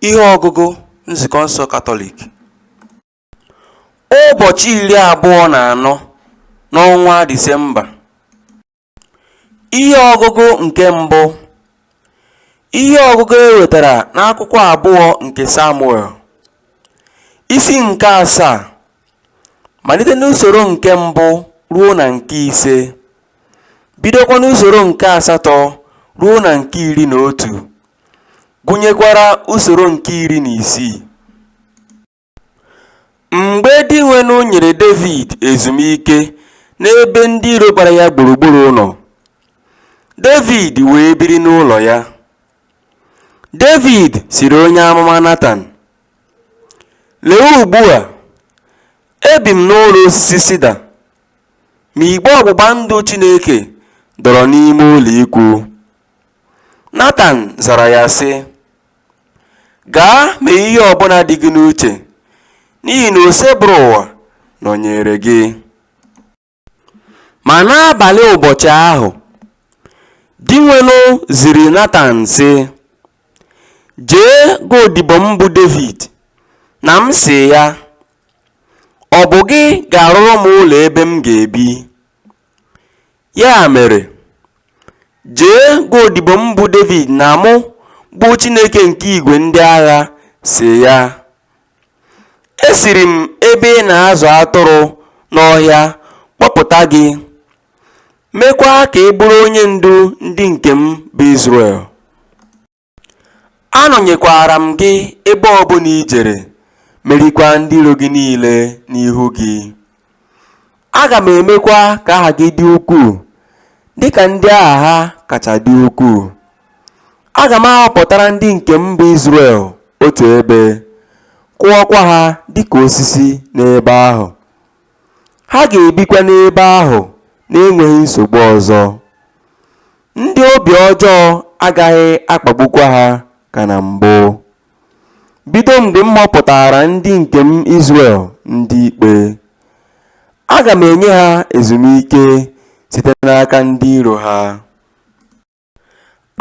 Ihe ọgụgụ Nzukọ nsọ Katọlik Ụbọchị iri abụọ na anọ n'ọnwa Disemba Ihe ọgụgụ nke mbụ Ihe ọgụgụ e wetara n'akwụkwọ abụọ nke Samuel Isi nke asaa malite n'usoro nke mbụ ruo na nke ise bidokwa n'usoro nke asatọ ruo na nke iri na otu gụnyekwara usoro nke iri na isii mgbe dinwenụ nyere david ezumike n'ebe ndị iro gbara ya gburugburu nọ david wee biri n'ụlọ ya david sịrị onye amụma natan Lee ugbu a, ebi m n'ụlọ osisi sida, ma igbe ọgbụgba ndụ Chineke dọrọ n'ime ụlọikwuu. Natan zara ya, sị, Gaa mee ihe ọ bụla dị gị n'uche, n'ihi na Osebụrụwa nọnyeere gị. Ma n'abalị ụbọchị ahụ, Dinwenụ ziri Natan, sị, Jee gwa odibo m bụ Devid na m sị ya, Ọ bụ gị ga-arụrụ m ụlọ ebe m ga-ebi. Ya mere, jee gwa odibo m bụ Devid na mụ, bụ Chineke nke igwe ndị agha, sị ya, Esiri m ebe ị na-azụ atụrụ n'ọhịa kpọpụta gị, meekwa ka ị bụrụ onye ndu ndị nke m bụ Izrel. Anọnyekwaara m gị ebe ọ bụla i jere, merikwaa ndị iro gị niile n'ihu gị. Aga m emekwa ka aha gị dị ukwuu dị ka ndị aha ha kacha dị ukwuu. Aga m ahọpụtara ndị nke m bụ Izrel otu ebe, kụọkwa ha dị ka osisi n'ebe ahụ. Ha ga-ebikwa n'ebe ahụ na-enweghị nsogbu ọzọ. Ndị obi ọjọọ agaghị akpagbukwa ha ka na mbụ. Bido mgbe m họpụtaara ndị nke m Izrel ndị ikpe, aga m enye ha ezumike site n'aka ndị iro ha.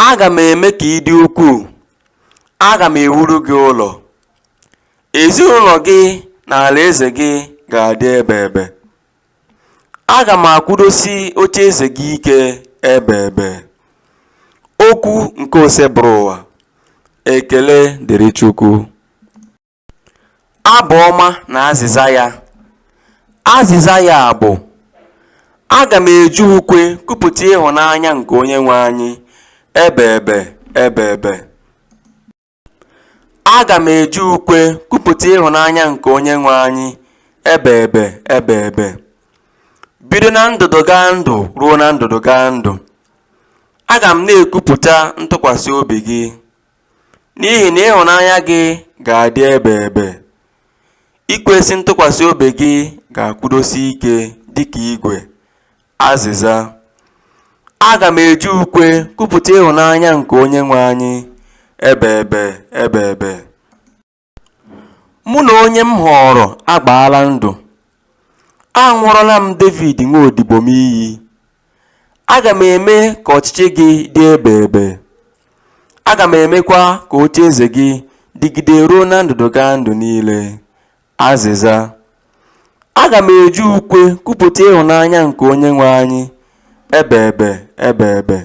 Aga m eme ka ị dị ukwuu, aga m ewuru gị ụlọ, ezinụlọ gị na alaeze gị ga-adị ebeebe. Aga m akwụdosi ocheeze gị ike ebeebe. Okwu nke Osebụrụwa. Ekele dịrị Chukwu. Abụ ọma na azịza ya. Azịza ya bụ Aga m eji ukwe kwupụta ịhụnanya nke Onyenwe anyị ebeebe ebeebe. Aga m eji ukwe kwupụta ịhụnanya nke Onyenwe anyị ebeebe ebeebe, bido na ndụdụgandụ ruo na ndụdụgandụ. Aga m na-ekwupụta ntụkwasị obi gị, n'ihi na ịhụnanya gị ga-adị ebeebe. Ikwesị ntụkwasị obi gị ga-akwụdosi ike dịka igwe. Azịza, Aga m eji ukwe kwupụta ịhụnanya nke Onyenwe anyị, ebeebe, ebeebe. Mụ na onye m họọrọ agbaala ndụ, aṅụọrọla m Devid nwa odibo m iyi. Aga m eme ka ọchịchị gị dị ebeebe, aga m emekwa ka ocheeze gị dịgide ruo na ndụdụgandụ niile. Azịza, Aga m eji ukwe kwupụta ịhụnanya nke Onyenwe anyị, ebeebe, ebeebe.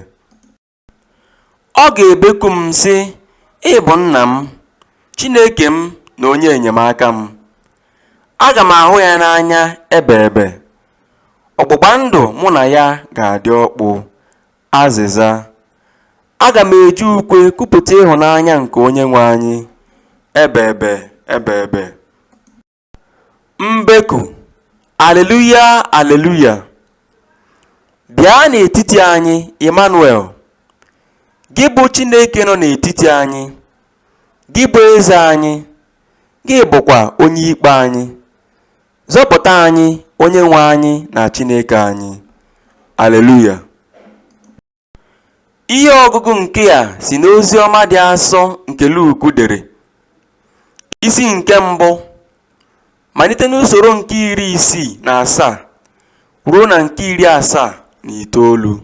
Ọ ga-ebeku m sị, Ị bụ nna m, Chineke m na onye enyemaka m. Aga m ahụ ya n'anya ebeebe, ọgbụgba ndụ mụ na ya ga-adị ọkpụ. Azịza, Aga m eji ukwe kwupụta ịhụnanya nke Onyenwe anyị, ebeebe ebeebe. Mbeku, Aleluya, aleluya! Bịa n'etiti anyị, Ịmanụel, gị bụ Chineke nọ n'etiti anyị, gị bụ eze anyị, gị bụkwa onye ikpe anyị. Zọpụta anyị, Onyenwe anyị na Chineke anyị. Aleluya! Ihe ọgụgụ nke a si n'ozi ọma dị asọ nke Luk dere. Isi nke mbụ, malite n'usoro nke iri isii na asaa ruo na nke iri asaa na itoolu.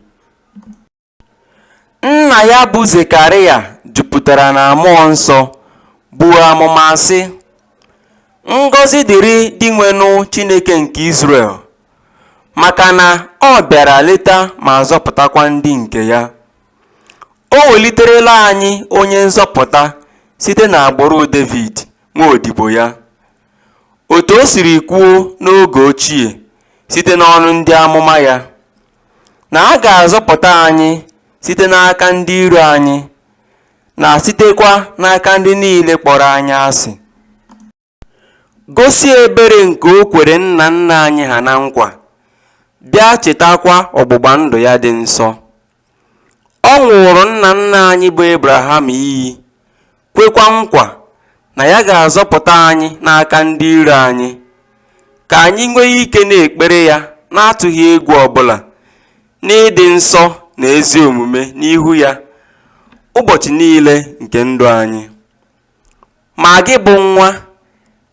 Nna ya bụ Zekaraya jupụtara na mmụọ nsọ, buo amụma, sị, Ngọzi dịrị Dinwenụ Chineke nke Izrel, maka na ọ bịara leta ma zọpụtakwa ndị nke ya. O weliterela anyị onye nzọpụta site n'agbụrụ Devid, nwa odibo ya. Otu o siri kwuo n'oge ochie site n'ọnụ ndị amụma ya. na a ga-azọpụta anyị site n'aka ndị iro anyị, na sitekwa n'aka ndị niile kpọrọ anyị asị. Gosi ebere nke o kwere nna nna anyị ha na nkwa, bịa chetakwa ọgbụgba ndụ ya dị nsọ. Ọ ṅụụrụ nna nna anyị bụ Ebraham iyi kwekwa nkwa na ya ga-azọpụta anyị n'aka ndị iro anyị, ka anyị nwee ike na-ekpere ya na-atụghị egwu ọ bụla, n'ịdị nsọ na ezi omume n'ihu ya ụbọchị niile nke ndụ anyị. Ma gị bụ nwa,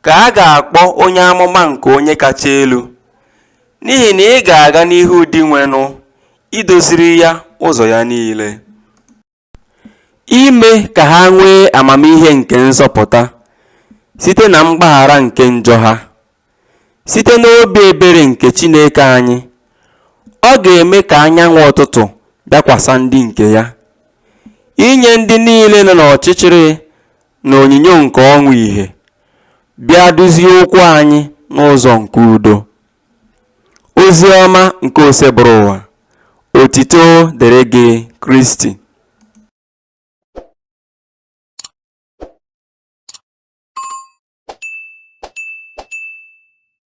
ka a ga-akpọ onye amụma nke Onye Kacha Elu, n'ihi na ị ga-aga n'ihu Dinwenụ idoziri ya ụzọ ya niile. Ime ka ha nwee amamihe nke nzọpụta site na mgbaghara nke njọ ha. Site n'obi ebere nke Chineke anyị, Ọ ga-eme ka anyanwụ ụtụtụ bịakwasị ndị nke Ya, inye ndị niile nọ n'ọchịchịrị na onyinyo nke ọnwụ ìhè, bịa duzie ụkwụ anyị n'ụzọ nke udo. Oziọma nke Oseburuwa, otito dịrị gị Kristi.